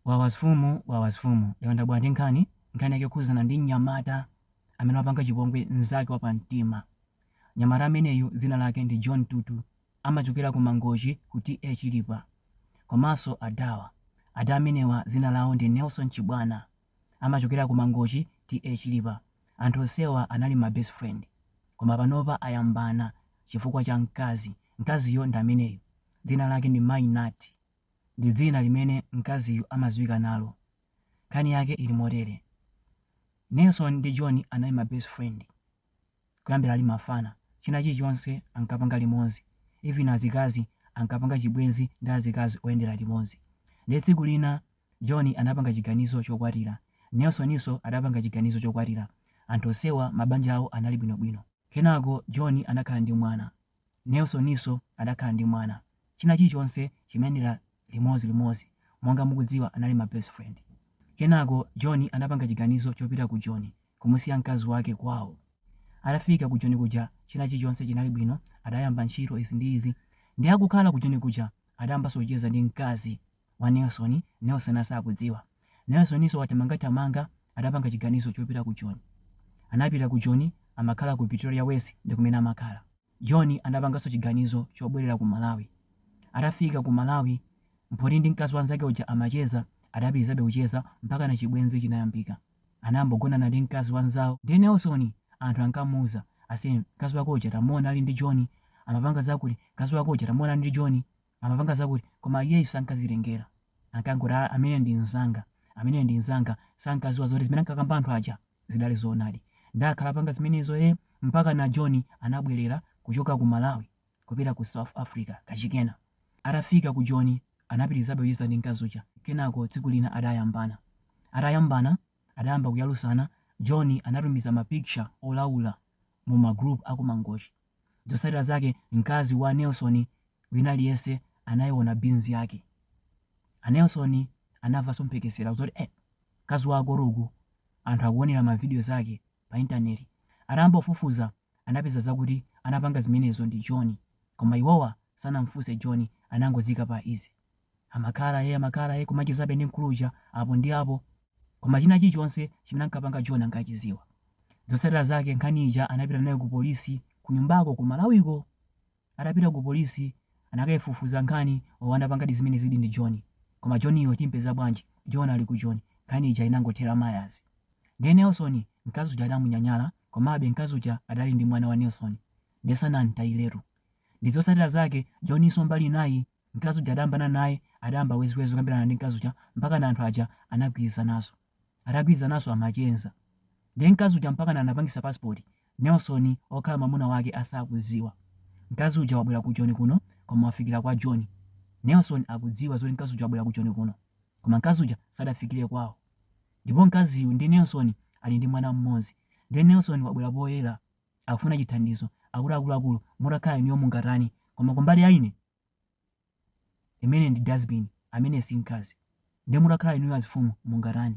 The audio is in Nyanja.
Wawa mfumu wawa mfumu yawanda bwanji nkhani nkhani yake yokhuzana ndi mnyamata amene wapanga chipongwe mzake wapamtima mnyamata ameneyu dzina lake ndi John Tutu amachokera ku mangochi ku TA chilipa komanso adawa ada amenewa dzina lawo ndi Nelson Chibwana amachokera ku mangochi TA chilipa anthu onsewa anali ma best friend koma panopa ayambana chifukwa cha mkazi mkaziyo ndi ameneyu dzina lake ndi Mai Nati ndi dzina limene mkaziyu amadziwika nalo. Nkhani yake ili motere, Nelson ndi John anali ma best friend kuyambira ali mafana. China chilichonse ankapanga limodzi, even azikazi ankapanga chibwenzi ndi azikazi oyendera limodzi. Ndiye tsiku lina John anapanga chiganizo chokwatira, Nelsoninso adapanga chiganizo chokwatira. Anthu onsewa mabanja awo anali bwinobwino. Kenako John anakhala ndi mwana, Nelsoninso adakhala ndi mwana. China chilichonse chimayendera limodzi limodzi. Monga mukudziwa anali ma best friend. Kenako John anapanga chiganizo chopita ku Joni kumusiya mkazi wake kwawo. Atafika ku Joni kuja china chilichonse chinali bwino adayamba ntchito izi ndi izi. Nde akukhala ku Joni kuja adayambanso kucheza ndi mkazi. wa Nelson, Nelson asakudziwa. Nelsoninso wathamangathamanga adapanga chiganizo chopita ku Joni. Anapita ku Joni amakhala ku Pretoria West ndi kumene amakhala. John anapanganso chiganizo chobwerera ku Malawi. Atafika ku Malawi, poti ndi mkazi wa nzake uja amacheza, adapitirizabe kucheza mpakana chibwenzi chinayambika. Anayamba kugonana ndi mkazi wa nzawo ndiye Nelson anthu ankamuuza ase mkazi wako uja tamuona ali ndi John, amapanga zakuti, mkazi wako uja tamuona ali ndi Joni. Amapanga zakuti, koma iyeyu sankazitengera. Ankangoti, ah, ameneyo ndi mnzanga, ameneyo ndi mnzanga. Sankadziwa zoti zimene ankakamba anthu aja zidali zoonadi. Ndiye akhala apanga zimenezo, eh, mpakana John anabwerera kuchoka ku Malawi kupita ku South Africa kachikena. Atafika ku Joni anapitirizabe kucheza ndi mkazi uja. Kenako tsiku lina adayambana. Atayambana adayamba kuyalusana, John anatumiza ma picture olaula mu ma group a ku Mangochi. Zotsatira zake mkazi wa Nelson wina aliyense anaiona beans yake. A Nelson anamvanso mphekesera zoti eh mkazi wako uli uku anthu akuonera ma video zake pa internet. Atayamba kufufuza anapeza zakuti anapanga zimenezo ndi John koma iwowa sanamfunse John anangoziika pa easy. Amakhala e, amakhala e, kumachezabe ndi mkulu uja apo ndi apo, koma china chilichonse chimene ankapanga John ankachidziwa. Zotsatira zake nkhani ija anapita nayo ku polisi kunyumbako ku Malawiko. Atapita ku polisi anakaifufuza nkhani yo anapangadi zimenezidi ndi John. Koma John yo timpeza bwanji? John ali ku Joni. Nkhani ija inangothera m'mazira. Ndiye Nelson mkazi uja adamunyanyala komabe mkazi uja adali ndi mwana wa Nelson. Ndiye sanamtayiretu. Ndi zotsatira zake Johninso mbali inayi Mkazi uja adayambana naye, adayamba weziwezi kukambirana ndi mkazi uja mpakana anthu aja anagwirizananso. Atagwirizananso amachenza. Ndiye mkazi uja mpakana anapangisa passport Nelson okhala mwamuna wake asakudziwa. Mkazi uja wabwera ku Joni kuno koma wafikira kwa Joni. Nelson akudziwa zoti mkazi uja wabwera ku Joni kuno. Koma mkazi uja sadafikire kwao. Ndipo mkaziyu ndi Nelson ali ndi mwana mmodzi. Ndiye Nelson wabwera poyera akufuna chithandizo akuti akuluakulu mutakhala inuyo mungatani koma kumbali ya ine imene ndi dustbin amene si mkazi nde mutakhala inuyo azifumu mungatani